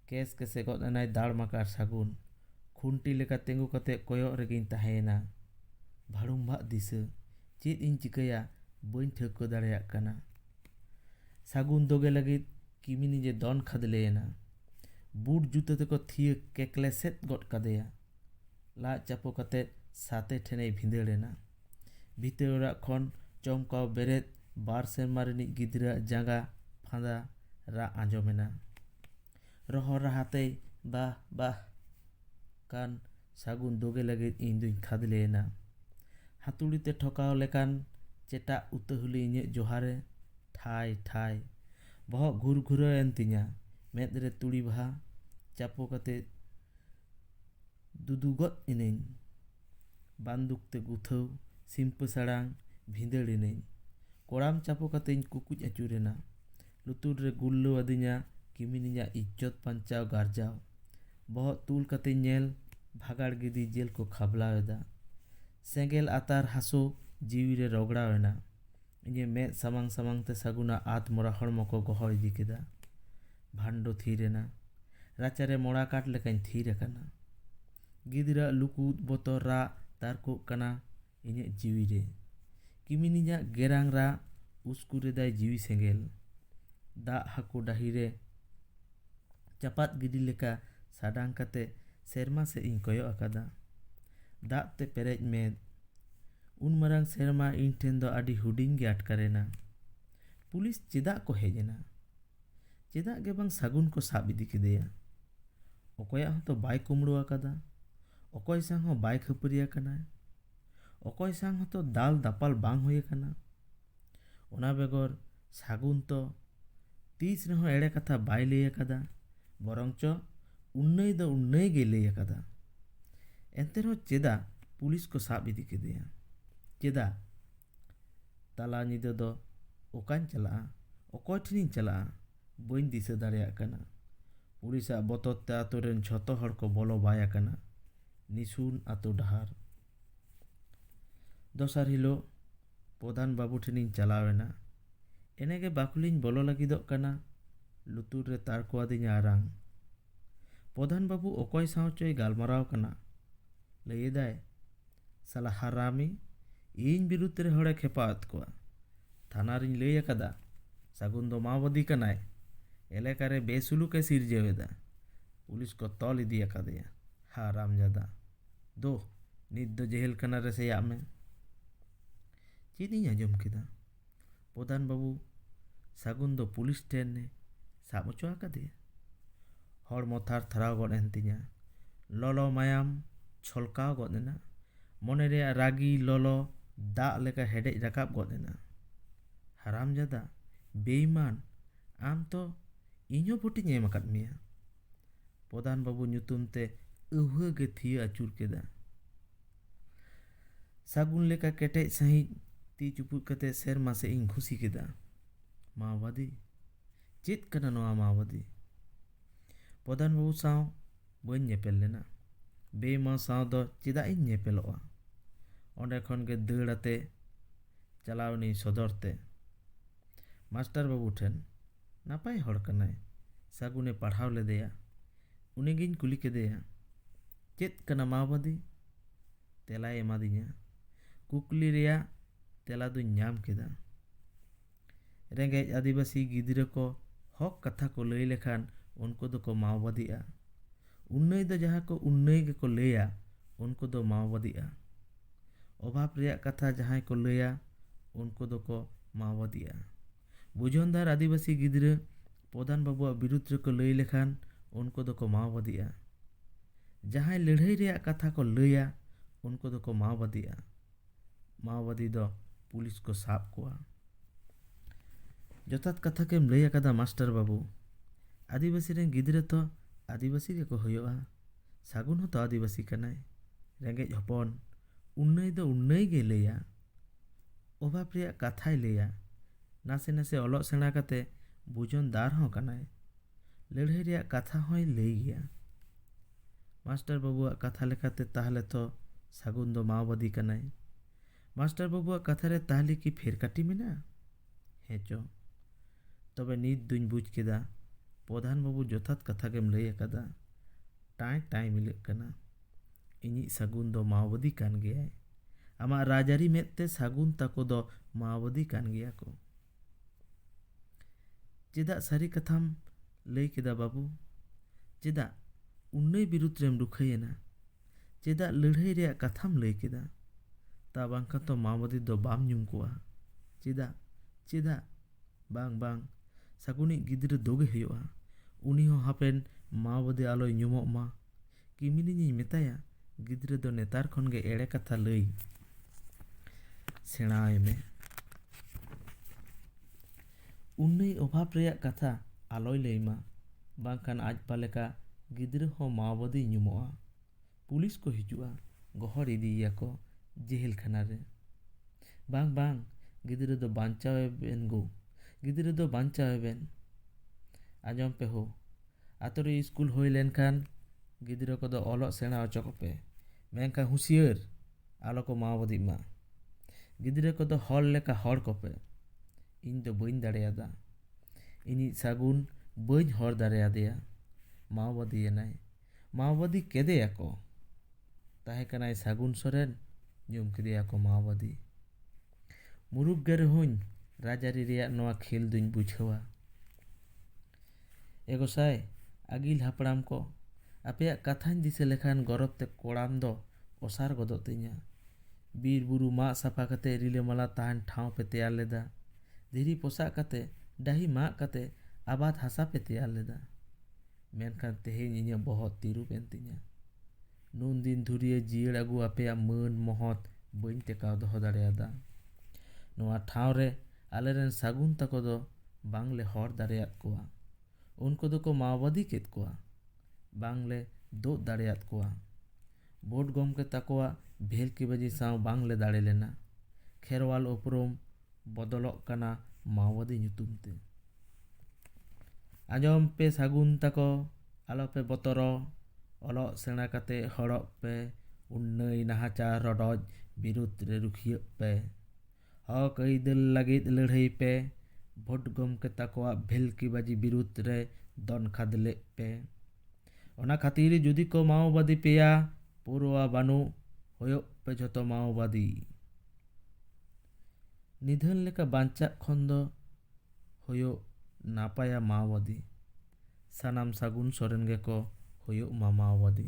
ᱠᱮᱥ ᱠᱮᱥᱮ ᱜᱚᱫ ᱮᱱᱟᱭ ᱫᱟᱲ ᱢᱟᱠᱟᱲ ᱥᱟᱹᱜᱩᱱ᱾ ᱠᱷᱩᱱᱴᱤ ᱞᱮᱠᱟ ᱛᱮᱸᱜᱩ ᱠᱟᱛᱮ ᱠᱚᱭᱚᱜ ᱨᱮᱜᱮᱧ ᱛᱟᱦᱮᱸ ᱮᱱᱟ᱾ ᱵᱷᱟᱹᱲᱩᱢᱵᱷᱟᱜ ᱫᱤᱥᱟᱹ᱾ ᱪᱮᱫ ᱤᱧ ᱪᱤᱠᱟᱹᱭᱟ ᱵᱟᱹᱧ ᱴᱷᱟᱹᱣᱠᱟᱹ ᱫᱟᱲᱮᱭᱟᱜ ᱠᱟᱱᱟ᱾ ᱥᱟᱹᱜᱩᱱ ᱫᱚᱜᱮ ᱞᱟᱹᱜᱤᱫ ᱠᱤᱢᱤᱱᱤᱡ ᱮ ᱫᱚᱱ ᱠᱷᱟᱫᱽᱞᱮ ᱮᱱᱟ᱾ ᱵᱩᱴ ᱡᱩᱛᱟᱹ ᱛᱮᱠᱚ ᱛᱷᱤᱭᱟᱹ ᱠᱮᱠᱞᱮᱥᱮᱫ ᱜᱚᱫ ᱠᱟᱫᱮᱭᱟ᱾ ᱞᱟᱡ ᱪᱟᱯᱚ ᱠᱟᱛᱮ ᱥᱟᱛᱮ ᱴᱷᱮᱱ ᱮ ᱵᱷᱤᱸᱫᱟᱹᱲ ᱮᱱᱟ ᱵᱷᱤᱛᱟᱹᱨ ᱚᱲᱟᱜ ᱠᱷᱚᱱ ᱪᱚᱢᱠᱟᱣ ᱵᱮᱨᱮᱫ ᱵᱟᱨ ᱥᱮᱨᱢᱟ ᱨᱤᱱᱤᱡ ᱜᱤᱫᱽᱨᱟᱹᱣᱟᱜ ᱡᱟᱸᱜᱟ ᱯᱷᱟᱸᱫᱟ ᱨᱟᱜ ᱟᱸᱡᱚᱢ ᱮᱱᱟ ᱨᱚᱦᱚᱲ ᱨᱟᱦᱟ ᱛᱮᱭ ᱵᱟᱦ ᱵᱟᱦ ᱠᱟᱱ ᱥᱟᱹᱜᱩᱱ ᱫᱳᱜᱮ ᱞᱟᱹᱜᱤᱫ ᱤᱧ ᱫᱩᱧ ᱠᱷᱟᱫᱽᱞᱮ ᱮᱱᱟ ᱦᱟᱹᱛᱩᱲᱤ ᱛᱮ ᱴᱷᱚᱠᱟᱣ ᱞᱮᱠᱟᱱ ᱪᱮᱴᱟᱜ ᱩᱛᱟᱹᱦᱩᱞᱤ ᱤᱧᱟᱹᱜ ᱡᱚᱦᱟᱨᱮ ᱴᱷᱟᱭ ᱴᱷᱟᱭ ᱵᱚᱦᱚᱜ ᱜᱷᱩᱨ ᱜᱷᱩᱨᱟᱹᱣ ᱮᱱ ᱛᱤᱧᱟᱹ ᱢᱮᱫ ᱨᱮ ᱛᱩᱲᱤ ᱵᱟᱦᱟ ᱪᱟᱯᱚ ᱠᱟᱛᱮ ᱫᱩᱫᱩᱜᱚᱫ ᱮᱱᱟᱹᱧ ᱵᱟᱱᱫᱩᱠ ᱛᱮ ᱜᱩᱛᱷᱟᱹᱣ ᱥᱤᱢᱯᱟᱹ ᱥᱟᱲᱟᱝ ᱵᱷᱤᱸᱫᱟᱹᱲ ᱮᱱᱟᱹᱧ ᱠᱚᱲᱟᱢ ᱪᱟᱯᱚ ᱠᱟᱛᱮᱧ ᱠᱩᱠᱩᱡ ᱟᱹᱪᱩᱨ ᱮᱱᱟ ᱞᱩᱛᱩᱨ ᱨᱮ ᱜᱩᱨᱞᱟᱹ ᱟᱹᱫᱤᱧᱟ ᱠᱤᱢᱤᱱ ᱤᱧᱟᱹᱜ ᱤᱡᱽᱡᱚᱛ ᱵᱟᱧᱪᱟᱣ ᱜᱟᱨᱡᱟᱣ ᱵᱚᱦᱚᱜ ᱛᱩᱞ ᱠᱟᱛᱮᱧ ᱧᱮᱞ ᱵᱷᱟᱜᱟᱲ ᱜᱤᱫᱤ ᱡᱮᱞ ᱠᱚ ᱠᱷᱟᱵᱽᱞᱟᱣ ᱮᱫᱟ ᱥᱮᱸᱜᱮᱞ ᱟᱛᱟᱨ ᱦᱟᱹᱥᱩ ᱡᱤᱣᱤ ᱨᱮ ᱨᱚᱜᱽᱲᱟᱣ ᱮᱱᱟ ᱤᱧᱟᱹᱜ ᱢᱮᱫ ᱥᱟᱢᱟᱝ ᱥᱟᱢᱟᱝ ᱛᱮ ᱥᱟᱹᱜᱩᱱᱟᱜ ᱟᱫᱽ ᱢᱚᱨᱟ ᱦᱚᱲᱢᱚ ᱠᱚ ᱜᱚᱦᱚᱲ ᱤᱫᱤ ᱠᱮᱫᱟ ᱵᱷᱟᱱᱰᱚ ᱛᱷᱤᱨ ᱮᱱᱟ ᱨᱟᱪᱟᱨᱮ ᱢᱚᱲᱟ ᱠᱟᱴ ᱞᱮᱠᱟᱧ ᱛᱷᱤᱨ ᱟᱠᱟᱱᱟ ᱜᱤᱫᱽᱨᱟᱹ ᱞᱩᱠᱩᱫ ᱵᱚᱛᱚᱨ ᱨᱟᱜ ᱛᱟᱨᱠᱚᱜ ᱠᱟᱱᱟ ᱤᱧᱟᱹᱜ ᱡᱤᱣᱤ ᱨᱮ ᱠᱤᱢᱤᱱᱤᱧᱟᱜ ᱜᱮᱨᱟᱝ ᱨᱟᱜ ᱩᱥᱠᱩᱨᱮᱫᱟᱭ ᱡᱤᱣᱤ ᱥᱮᱸᱜᱮᱞ ᱫᱟᱜ ᱦᱟᱹᱠᱩ ᱰᱟᱹᱦᱤ ᱨᱮ ᱪᱟᱯᱟᱫ ᱜᱤᱰᱤ ᱞᱮᱠᱟ ᱥᱟᱰᱟᱝ ᱠᱟᱛᱮ ᱥᱮᱨᱢᱟ ᱥᱮᱫ ᱤᱧ ᱠᱚᱭᱚᱜ ᱟᱠᱟᱫᱟ ᱫᱟᱜ ᱛᱮ ᱯᱮᱨᱮᱡ ᱢᱮᱫ ᱩᱱ ᱢᱟᱨᱟᱝ ᱥᱮᱨᱢᱟ ᱤᱧ ᱴᱷᱮᱱ ᱫᱚ ᱟᱹᱰᱤ ᱦᱩᱰᱤᱧ ᱜᱮ ᱟᱴᱠᱟᱨᱮᱱᱟ ᱯᱩᱞᱤᱥ ᱪᱮᱫᱟᱜ ᱠᱚ ᱦᱮᱡ ᱮᱱᱟ ᱪᱮᱫᱟᱜ ᱜᱮ ᱵᱟᱝ ᱥᱟᱹᱜᱩᱱ ᱠᱚ ᱥᱟᱵ ᱤᱫᱤ ᱠᱮᱫᱮᱭᱟ ᱚᱠᱚᱭᱟᱜ ᱦᱚᱸᱛᱚ ᱵᱟᱭ ᱠᱩᱢᱲᱩ ᱟᱠᱟᱫᱟ ᱚᱠᱚᱭ ᱥᱟᱶ ᱦᱚᱸ ᱵᱟᱭ ᱠᱷᱟᱹᱯᱟᱹᱨᱤ ᱟᱠᱟᱱᱟ ᱚᱠᱚᱭ ᱥᱟᱶ ᱦᱚᱸᱛᱚ ᱫᱟᱞ ᱫᱟᱯᱟᱞ ᱵᱟᱝ ᱦᱩᱭ ᱟᱠᱟᱱᱟ ᱚᱱᱟ ᱵᱮᱜᱚᱨ ᱥᱟᱹᱜᱩᱱ ᱛᱚ ᱛᱤᱥ ᱨᱮᱦᱚᱸ ᱮᱲᱮ ᱠᱟᱛᱷᱟ ᱵᱟᱭ ᱞᱟᱹᱭ ᱟᱠᱟᱫᱟ ᱵᱚᱨᱚᱝ ᱪᱚ ᱩᱱᱱᱟᱹᱭ ᱫᱚ ᱩᱱᱱᱟᱹᱭ ᱜᱮᱭ ᱞᱟᱹᱭ ᱟᱠᱟᱫᱟ ᱮᱱᱛᱮ ᱨᱮᱦᱚᱸ ᱪᱮᱫᱟᱜ ᱯᱩᱞᱤᱥ ᱠᱚ ᱥᱟᱵ ᱤᱫᱤ ᱠᱮᱫᱮᱭᱟ ᱪᱮᱫᱟᱜ ᱛᱟᱞᱟ ᱧᱤᱫᱟᱹ ᱫᱚ ᱚᱠᱟᱧ ᱪᱟᱞᱟᱜᱼᱟ ᱚᱠᱚᱭ ᱴᱷᱮᱱᱤᱧ ᱪᱟᱞᱟᱜᱼᱟ ᱵᱟᱹᱧ ᱫᱤᱥᱟᱹ ᱫᱟᱲᱮᱭᱟᱜ ᱠᱟᱱᱟ ᱯᱩᱞᱤᱥ ᱟᱜ ᱵᱚᱛᱚᱨ ᱛᱮ ᱟᱛᱳ ᱨᱮᱱ ᱡᱷᱚᱛᱚ ᱦᱚᱲ ᱠᱚ ᱵᱚᱞᱚ ᱵᱟᱭ ᱟᱠᱟᱱᱟ ᱱᱤᱥᱩᱱ ᱟᱛᱳ ᱰᱟᱦᱟᱨ ᱫᱚᱥᱟᱨ ᱦᱤᱞᱳᱜ ᱯᱨᱚᱫᱷᱟᱱ ᱵᱟᱹᱵᱩ ᱴᱷᱮᱱᱤᱧ ᱪᱟᱞᱟᱣ ᱮᱱᱟ ᱮᱱᱮᱜᱮ ᱵᱟᱠᱷᱩᱞᱤᱧ ᱵᱚᱞᱚ ᱞᱟᱹᱜᱤᱫᱚᱜ ᱠᱟᱱᱟ ᱞᱩᱛᱩᱨ ᱨᱮ ᱛᱟᱨ ᱠᱚ ᱟᱹᱫᱤᱧᱟ ᱟᱨᱟᱝ ᱯᱨᱚᱫᱷᱟᱱ ᱵᱟᱹᱵᱩ ᱚᱠᱚᱭ ᱥᱟᱶ ᱪᱚᱭ ᱜᱟᱞᱢᱟᱨᱟᱣ ᱠᱟᱱᱟ ᱞᱟᱹᱭ ᱮᱫᱟᱭ ᱥᱟᱞᱟ ᱦᱟᱨᱟᱢᱤ ᱤᱧ ᱵᱤᱨᱩᱫᱷ ᱨᱮ ᱦᱚᱲᱮ ᱠᱷᱮᱯᱟ ᱟᱫ ᱠᱚᱣᱟ ᱛᱷᱟᱱᱟ ᱨᱤᱧ ᱞᱟᱹᱭ ᱟᱠᱟᱫᱟ ᱥᱟᱹᱜᱩᱱ ᱫᱚ ᱢᱟᱣᱵᱟᱫᱤ ᱠᱟᱱᱟᱭ ᱮᱞᱟᱠᱟ ᱨᱮ ᱵᱮᱥᱩᱞᱩᱠ ᱮ ᱥᱤᱨᱡᱟᱹᱣ ᱮᱫᱟ ᱯᱩᱞᱤᱥ ᱠᱚ ᱛᱚᱞ ᱤᱫᱤ ᱟᱠᱟᱫᱮᱭᱟ ᱦᱟᱨᱟᱢ ᱡᱟᱫᱟ ᱫᱩ ᱱᱤᱛ ᱫᱚ ᱡᱮᱦᱮᱞ ᱠᱷᱟᱱᱟ ᱨᱮ ᱥᱮᱭᱟᱜ ᱢᱮ ᱪᱮᱫ ᱤᱧ ᱟᱸᱡᱚᱢ ᱠᱮᱫᱟ ᱯᱨᱚᱫᱷᱟᱱ ᱵᱟᱹᱵᱩ ᱥᱟᱹᱜᱩᱱ ᱫᱚ ᱯᱩᱞᱤᱥ ᱴᱷᱮᱱ ᱮ ᱥᱟᱵ ᱦᱚᱪᱚ ᱟᱠᱟᱫᱮᱭᱟ ᱦᱚᱲᱢᱚ ᱛᱷᱟᱨ ᱛᱷᱟᱨᱟᱣ ᱜᱚᱫ ᱮᱱ ᱛᱤᱧᱟᱹ ᱞᱚᱞᱚ ᱢᱟᱭᱟᱢ ᱪᱷᱚᱞᱠᱟᱣ ᱜᱚᱫ ᱮᱱᱟ ᱢᱚᱱᱮ ᱨᱮᱭᱟᱜ ᱨᱟᱹᱜᱤ ᱞᱚᱞᱚ ᱫᱟᱜ ᱞᱮᱠᱟ ᱦᱮᱰᱮᱡ ᱨᱟᱠᱟᱵ ᱜᱚᱫ ᱮᱱᱟ ᱦᱟᱨᱟᱢ ᱡᱟᱫᱟ ᱵᱮᱭᱤᱢᱟᱱ ᱟᱢ ᱛᱚ ᱤᱧ ᱦᱚᱸ ᱵᱷᱳᱴᱤᱧ ᱮᱢ ᱟᱠᱟᱫ ᱢᱮᱭᱟ ᱯᱨᱚᱫᱷᱟᱱ ᱵᱟᱹᱵᱩ ᱧᱩᱛᱩᱢ ᱛᱮ ᱟᱹᱣᱦᱟᱹ ᱜᱮ ᱛᱷᱤᱭᱟᱹ ᱟᱹᱪᱩᱨ ᱠᱮᱫᱟ ᱥᱟᱹᱜᱩᱱ ᱞᱮᱠᱟ ᱠᱮᱴᱮᱡ ᱥᱟᱺᱦᱤᱡ ᱛᱤ ᱪᱩᱯᱩᱫ ᱠᱟᱛᱮ ᱥᱮᱨᱢᱟ ᱥᱮᱫ ᱤᱧ ᱜᱷᱩᱥᱤ ᱠᱮᱫᱟ᱾ ᱢᱟᱣᱵᱟᱫᱤ? ᱪᱮᱫ ᱠᱟᱱᱟ ᱱᱚᱣᱟ ᱢᱟᱣᱵᱟᱫᱤ? ᱯᱚᱫᱷᱟᱱ ᱵᱟᱹᱵᱩ ᱥᱟᱶ ᱵᱟᱹᱧ ᱧᱮᱯᱮᱞ ᱞᱮᱱᱟ᱾ ᱵᱮᱭᱢᱟ ᱥᱟᱶ ᱫᱚ ᱪᱮᱫᱟᱜ ᱤᱧ ᱧᱮᱯᱮᱞᱚᱜᱼᱟ? ᱚᱸᱰᱮ ᱠᱷᱚᱱ ᱜᱮ ᱫᱟᱹᱲ ᱟᱛᱮ ᱪᱟᱞᱟᱣ ᱮᱱᱟᱹᱧ ᱥᱚᱫᱚᱨ ᱛᱮ᱾ ᱢᱟᱥᱴᱟᱨ ᱵᱟᱹᱵᱩ ᱴᱷᱮᱱ᱾ ᱱᱟᱯᱟᱭ ᱦᱚᱲ ᱠᱟᱱᱟᱭ᱾ ᱥᱟᱹᱜᱩᱱᱮ ᱯᱟᱲᱦᱟᱣ ᱞᱮᱫᱮᱭᱟ᱾ ᱩᱱᱤ ᱜᱮᱧ ᱠᱩᱞᱤ ᱠᱮᱫᱮᱭᱟ, ᱪᱮᱫ ᱠᱟᱱᱟ ᱢᱟᱣᱵᱟᱫᱤ? ᱛᱮᱞᱟᱭ ᱮᱢᱟᱫᱤᱧᱟ ᱠᱩᱠᱞᱤ ᱨᱮᱭᱟᱜ ᱛᱮᱞᱟ ᱫᱚᱧ ᱧᱟᱢ ᱠᱮᱫᱟ ᱨᱮᱸᱜᱮᱡ ᱟᱹᱫᱤᱵᱟᱹᱥᱤ ᱜᱤᱫᱽᱨᱟᱹ ᱠᱚ ᱦᱚᱠ ᱠᱟᱛᱷᱟ ᱠᱚ ᱞᱟᱹᱭ ᱞᱮᱠᱷᱟᱱ ᱩᱱᱠᱩ ᱫᱚᱠᱚ ᱢᱟᱣᱵᱟᱫᱤᱜᱼᱟ ᱩᱱᱱᱟᱹᱭ ᱫᱚ ᱡᱟᱦᱟᱸ ᱠᱚ ᱩᱱᱱᱟᱹᱭ ᱜᱮᱠᱚ ᱞᱟᱹᱭᱟ ᱩᱱᱠᱩ ᱫᱚ ᱢᱟᱣᱵᱟᱫᱤᱜᱼᱟ ᱚᱵᱷᱟᱵᱽ ᱨᱮᱭᱟᱜ ᱠᱟᱛᱷᱟ ᱡᱟᱦᱟᱸᱭ ᱠᱚ ᱞᱟᱹᱭᱟ ᱩᱱᱠᱩ ᱫᱚᱠᱚ ᱢᱟᱣᱵᱟᱫᱤᱜᱼᱟ ᱵᱩᱡᱷᱚᱱᱫᱟᱨ ᱟᱹᱫᱤᱵᱟᱹᱥᱤ ᱜᱤᱫᱽᱨᱟᱹ ᱯᱨᱚᱫᱷᱟᱱ ᱵᱟᱹᱵᱩᱣᱟᱜ ᱵᱤᱨᱩᱫᱷ ᱨᱮᱠᱚ ᱞᱟᱹᱭ ᱞᱮᱠᱷᱟᱱ ᱩᱱᱠᱩ ᱫᱚᱠᱚ ᱢᱟᱣᱵᱟᱫᱤᱜᱼᱟ ᱡᱟᱦᱟᱸᱭ ᱞᱟᱹᱲᱦᱟᱹᱭ ᱨᱮᱭᱟᱜ ᱠᱟᱛᱷᱟ ᱠᱚ ᱞᱟᱹᱭᱟ ᱩᱱᱠᱩ ᱫᱚᱠᱚ ᱢᱟᱣᱵᱟᱫᱤᱜᱼᱟ ᱢᱟᱣᱵᱟᱫᱤ ᱫᱚ ᱯᱩᱞᱤᱥ ᱠᱚ ᱥᱟᱵ ᱠᱚᱣᱟ ᱡᱚᱛᱷᱟᱛ ᱠᱟᱛᱷᱟ ᱜᱮᱢ ᱞᱟᱹᱭ ᱟᱠᱟᱫᱟ ᱢᱟᱥᱴᱟᱨ ᱵᱟᱹᱵᱩ ᱟᱹᱫᱤᱵᱟᱹᱥᱤ ᱨᱮᱱ ᱜᱤᱫᱽᱨᱟᱹ ᱛᱚ ᱟᱹᱫᱤᱵᱟᱹᱥᱤ ᱜᱮᱠᱚ ᱦᱩᱭᱩᱜᱼᱟ ᱥᱟᱹᱜᱩᱱ ᱦᱚᱸᱛᱚ ᱟᱹᱫᱤᱵᱟᱹᱥᱤ ᱠᱟᱱᱟᱭ ᱨᱮᱸᱜᱮᱡ ᱦᱚᱯᱚᱱ ᱩᱱᱱᱟᱹᱭ ᱫᱚ ᱩᱱᱱᱟᱹᱭ ᱜᱮᱭ ᱞᱟᱹᱭᱟ ᱚᱵᱷᱟᱵᱽ ᱨᱮᱭᱟᱜ ᱠᱟᱛᱷᱟᱭ ᱞᱟᱹᱭᱟ ᱱᱟᱥᱮ ᱱᱟᱥᱮ ᱚᱞᱚᱜ ᱥᱮᱬᱟ ᱠᱟᱛᱮ ᱵᱩᱡᱩᱱ ᱫᱟᱨ ᱦᱚᱸ ᱠᱟᱱᱟᱭ ᱞᱟᱹᱲᱦᱟᱹᱭ ᱨᱮᱭᱟᱜ ᱠᱟᱛᱷᱟ ᱦᱚᱸᱭ ᱞᱟᱹᱭ ᱜᱮᱭᱟ ᱢᱟᱥᱴᱟᱨ ᱵᱟᱹᱵᱩᱣᱟᱜ ᱠᱟᱛᱷᱟ ᱞᱮᱠᱟᱛᱮ ᱛᱟᱦᱚᱞᱮ ᱛᱚ ᱥᱟᱹᱜᱩᱱ ᱫᱚ ᱢᱟᱣᱵᱟᱫᱤ ᱠᱟᱱᱟᱭ ᱢᱟᱥᱴᱟᱨ ᱵᱟᱹᱵᱩᱣᱟᱜ ᱠᱟᱛᱷᱟ ᱨᱮ ᱛᱟᱦᱚᱞᱮ ᱠᱤ ᱯᱷᱮᱨ ᱠᱟᱹᱴᱤ ᱢᱮᱱᱟᱜᱼᱟ ᱦᱮᱸ ᱪᱚ ᱛᱚᱵᱮ ᱱᱤᱛ ᱫᱩᱧ ᱵᱩᱡᱽ ᱠᱮᱫᱟ ᱯᱨᱚᱫᱷᱟᱱ ᱵᱟᱹᱵᱩ ᱡᱚᱛᱷᱟᱛ ᱠᱟᱛᱷᱟ ᱜᱮᱢ ᱞᱟᱹᱭ ᱟᱠᱟᱫᱟ ᱴᱟᱸᱭ ᱴᱟᱸᱭ ᱢᱤᱞᱟᱹᱜ ᱠᱟᱱᱟ ᱤᱧᱤᱡ ᱥᱟᱹᱜᱩᱱ ᱫᱚ ᱢᱟᱣᱵᱟᱫᱤ ᱠᱟᱱ ᱜᱮᱭᱟᱭ ᱟᱢᱟᱜ ᱨᱟᱡᱽᱟᱹᱨᱤ ᱢᱮᱫ ᱛᱮ ᱥᱟᱹᱜᱩᱱ ᱛᱟᱠᱚ ᱫᱚ ᱢᱟᱣᱵᱟᱫᱤ ᱠᱟᱱ ᱜᱮᱭᱟ ᱠᱚ ᱪᱮᱫᱟᱜ ᱥᱟᱹᱨᱤ ᱠᱟᱛᱷᱟᱢ ᱞᱟᱹᱭ ᱠᱮᱫᱟ ᱵᱟᱹᱵᱩ ᱪᱮᱫᱟᱜ ᱩᱱᱱᱟᱹᱭ ᱵᱤᱨᱩᱫᱽ ᱨᱮᱢ ᱨᱩᱠᱷᱟᱹᱭᱮᱱᱟ ᱪᱮᱫᱟᱜ ᱞᱟᱹᱲᱦᱟᱹᱭ ᱨᱮᱭᱟᱜ ᱠᱟᱛᱷᱟᱢ ᱞᱟᱹᱭ ᱠᱮᱫᱟ ᱛᱟ ᱵᱟᱝᱠᱷᱟᱱ ᱛᱚ ᱢᱟᱣᱵᱟᱫᱤ ᱫᱚ ᱵᱟᱢ ᱧᱩᱢ ᱠᱚᱣᱟ ᱪᱮᱫᱟᱜ ᱪᱮᱫᱟᱜ ᱵᱟᱝ ᱵᱟᱝ ᱥᱟᱹᱜᱩᱱᱤᱡ ᱜᱤᱫᱽᱨᱟᱹ ᱫᱚᱜᱮ ᱦᱩᱭᱩᱜᱼᱟ ᱩᱱᱤ ᱦᱚᱸ ᱦᱟᱯᱮᱱ ᱢᱟ ᱵᱟᱹᱫᱤ ᱟᱞᱚᱭ ᱧᱩᱢᱚᱜ ᱢᱟ ᱠᱤᱢᱤᱱᱤᱧ ᱢᱮᱛᱟᱭᱟ ᱜᱤᱫᱽᱨᱟᱹ ᱫᱚ ᱱᱮᱛᱟᱨ ᱠᱷᱚᱱ ᱜᱮ ᱮᱲᱮ ᱠᱟᱛᱷᱟ ᱞᱟᱹᱭ ᱥᱮᱬᱟ ᱟᱭ ᱢᱮ ᱩᱱᱤ ᱚᱵᱷᱟᱵ ᱨᱮᱭᱟᱜ ᱠᱟᱛᱷᱟ ᱟᱞᱚᱭ ᱞᱟᱹᱭ ᱢᱟ ᱵᱟᱝᱠᱷᱟᱱ ᱟᱡ ᱵᱟ ᱞᱮᱠᱟ ᱜᱤᱫᱽᱨᱟᱹ ᱦᱚᱸ ᱢᱟᱣᱵᱟᱫᱤᱭ ᱧᱩᱢᱩᱜᱼᱟ ᱯᱩᱞᱤᱥ ᱠᱚ ᱦᱤᱡᱩᱜᱼᱟ ᱜᱚᱦᱚᱲ ᱤᱫᱤᱭᱮᱭᱟᱠᱚ ᱡᱮᱦᱮᱞ ᱠᱷᱟᱱᱟ ᱨᱮ ᱵᱟᱝ ᱵᱟᱝ ᱜᱤᱫᱽᱨᱟᱹ ᱫᱚ ᱵᱟᱧᱪᱟᱣ ᱮᱵᱮᱱ ᱜᱳ ᱜᱤᱫᱽᱨᱟᱹ ᱫᱚ ᱵᱟᱧᱪᱟᱣ ᱮᱵᱮᱱ ᱟᱸᱡᱚᱢ ᱯᱮ ᱦᱳ ᱟᱹᱛᱩ ᱨᱮ ᱤᱥᱠᱩᱞ ᱦᱩᱭ ᱞᱮᱱᱠᱷᱟᱱ ᱜᱤᱫᱽᱨᱟᱹ ᱠᱚᱫᱚ ᱚᱞᱚᱜ ᱥᱮᱬᱟ ᱦᱚᱪᱚ ᱠᱚᱯᱮ ᱢᱮᱱᱠᱷᱟᱱ ᱦᱩᱥᱭᱟᱹᱨ ᱟᱞᱚ ᱠᱚ ᱢᱟᱣᱵᱟᱫᱤᱜ ᱢᱟ ᱜᱤᱫᱽᱨᱟᱹ ᱠᱚᱫᱚ ᱦᱚᱲ ᱞᱮᱠᱟ ᱦᱚᱲ ᱠᱚᱯᱮ ᱤᱧ ᱫᱚ ᱵᱟᱹᱧ ᱫᱟᱲᱮᱭᱟᱫᱟ ᱤᱧᱤᱡ ᱥᱟᱹᱜᱩᱱ ᱵᱟᱹᱧ ᱦᱚᱲ ᱫᱟᱲᱮᱭᱟᱫᱮᱭᱟ ᱢᱟᱣᱵᱟᱫᱤ ᱮᱱᱟᱭ ᱢᱟᱣᱵᱟᱫᱤ ᱠᱮᱫᱮᱭᱟᱠᱚ ᱛᱟᱦᱮᱸ ᱠᱟᱱᱟᱭ ᱥᱟᱹᱜᱩᱱ ᱥᱚᱨᱮᱱ ᱧᱩᱢ ᱠᱮᱫᱮᱭᱟᱠᱚ ᱢᱟᱣᱵᱟᱫᱤ ᱢᱩᱨᱩᱠ ᱜᱮ ᱨᱮᱦᱚᱧ ᱨᱟᱡᱽᱟᱹᱨᱤ ᱨᱮᱭᱟᱜ ᱱᱚᱣᱟ ᱠᱷᱮᱞ ᱫᱩᱧ ᱵᱩᱡᱷᱟᱹᱣᱟ ᱮ ᱜᱚᱸᱥᱟᱭ ᱟᱹᱜᱤᱞ ᱦᱟᱯᱲᱟᱢ ᱠᱚ ᱟᱯᱮᱭᱟᱜ ᱠᱟᱛᱷᱟᱧ ᱫᱤᱥᱟᱹ ᱞᱮᱠᱷᱟᱱ ᱜᱚᱨᱚᱵᱽ ᱛᱮ ᱠᱚᱲᱟᱢ ᱫᱚ ᱚᱥᱟᱨ ᱜᱚᱫᱚᱜ ᱛᱤᱧᱟᱹ ᱵᱤᱨ ᱵᱩᱨᱩ ᱢᱟᱜ ᱥᱟᱯᱷᱟ ᱠᱟᱛᱮ ᱨᱤᱞᱟᱹᱢᱟᱞᱟ ᱛᱟᱦᱮᱱ ᱴᱷᱟᱶ ᱯᱮ ᱛᱮᱭᱟᱨ ᱞᱮᱫᱟ ᱫᱷᱤᱨᱤ ᱯᱚᱥᱟᱜ ᱠᱟᱛᱮ ᱰᱟᱹᱦᱤ ᱢᱟᱜ ᱠᱟᱛᱮ ᱟᱵᱟᱫ ᱦᱟᱥᱟ ᱯᱮ ᱛᱮᱭᱟᱨ ᱞᱮᱫᱟ ᱢᱮᱱᱠᱷᱟᱱ ᱛᱮᱦᱮᱧ ᱤᱧᱟᱹᱜ ᱵᱚᱦᱚᱜ ᱛᱤᱨᱩᱵ ᱮᱱ ᱛᱤᱧᱟᱹ ᱱᱩᱱ ᱫᱤᱱ ᱫᱷᱩᱨᱭᱟᱹ ᱡᱤᱭᱟᱹᱲ ᱟᱹᱜᱩ ᱟᱯᱮᱭᱟᱜ ᱢᱟᱹᱱ ᱢᱚᱦᱚᱛ ᱵᱟᱹᱧ ᱴᱮᱠᱟᱣ ᱫᱚᱦᱚ ᱫᱟᱲᱮᱭᱟᱫᱟ ᱱᱚᱣᱟ ᱴᱷᱟᱶ ᱨᱮ ᱟᱞᱮ ᱨᱮᱱ ᱥᱟᱹᱜᱩᱱ ᱛᱟᱠᱚ ᱫᱚ ᱵᱟᱝ ᱞᱮ ᱦᱚᱲ ᱫᱟᱲᱮᱭᱟᱫ ᱠᱚᱣᱟ ᱩᱱᱠᱩ ᱫᱚᱠᱚ ᱢᱟᱣᱵᱟᱫᱤ ᱠᱮᱫ ᱠᱚᱣᱟ ᱵᱟᱝ ᱞᱮ ᱫᱳᱜ ᱫᱟᱲᱮᱭᱟᱫ ᱠᱚᱣᱟ ᱵᱳᱨᱰ ᱜᱚᱢᱠᱮ ᱛᱟᱠᱚᱣᱟᱜ ᱵᱷᱮᱞᱠᱤ ᱵᱟᱹᱡᱤ ᱥᱟᱶ ᱵᱟᱝ ᱞᱮ ᱫᱟᱲᱮ ᱞᱮᱱᱟ᱾ ᱠᱷᱮᱨᱣᱟᱞ ᱩᱯᱨᱩᱢ ᱵᱚᱫᱚᱞᱚᱜ ᱠᱟᱱᱟ ᱢᱟᱣᱵᱟᱫᱤ ᱧᱩᱛᱩᱢ ᱛᱮ᱾ ᱟᱸᱡᱚᱢ ᱯᱮ ᱥᱟᱹᱜᱩᱱ ᱛᱟᱠᱚ ᱟᱞᱚ ᱯᱮ ᱵᱚᱛᱚᱨᱚᱜ, ᱚᱞᱚᱜ ᱥᱮᱬᱟ ᱠᱟᱛᱮ ᱦᱚᱲᱚᱜ ᱯᱮ, ᱩᱱᱱᱟᱹᱭ ᱱᱟᱦᱟᱪᱟᱨ ᱨᱚᱰᱚᱡ ᱵᱤᱨᱩᱫᱷ ᱨᱮ ᱨᱩᱠᱷᱤᱭᱟᱹᱜ ᱯᱮ, ᱦᱚᱠ ᱟᱹᱭᱫᱟᱹᱨ ᱞᱟᱹᱜᱤᱫ ᱞᱟᱹᱲᱦᱟᱹᱭ ᱯᱮ, ᱵᱷᱳᱴ ᱜᱚᱢᱠᱮ ᱛᱟᱠᱚᱣᱟᱜ ᱵᱷᱮᱞᱠᱤ ᱵᱟᱹᱡᱤ ᱵᱤᱨᱩᱫᱷ ᱨᱮ ᱫᱚᱱ ᱠᱷᱟᱫᱽᱞᱮᱜ ᱯᱮ᱾ ᱚᱱᱟ ᱠᱷᱟᱹᱛᱤᱨ ᱡᱩᱫᱤ ᱠᱚ ᱢᱟᱣᱵᱟᱫᱤ ᱯᱮᱭᱟ ᱯᱩᱨᱣᱟ ᱵᱟᱹᱱᱩᱜ ᱦᱩᱭᱩᱜ ᱯᱮ ᱡᱷᱚᱛᱚ ᱢᱟᱣᱵᱟᱫᱤ ᱱᱤᱫᱷᱟᱹᱱ ᱞᱮᱠᱟ ᱵᱟᱧᱪᱟᱜ ᱠᱷᱚᱱ ᱫᱚ ᱦᱩᱭᱩᱜ ᱱᱟᱯᱟᱭᱟ ᱢᱟᱣᱵᱟᱫᱤ ᱥᱟᱱᱟᱢ ᱥᱟᱹᱜᱩᱱ ᱥᱚᱨᱮᱱ ᱜᱮᱠᱚ ᱦᱩᱭᱩᱜ ᱢᱟ ᱢᱟᱣᱵᱟᱫᱤ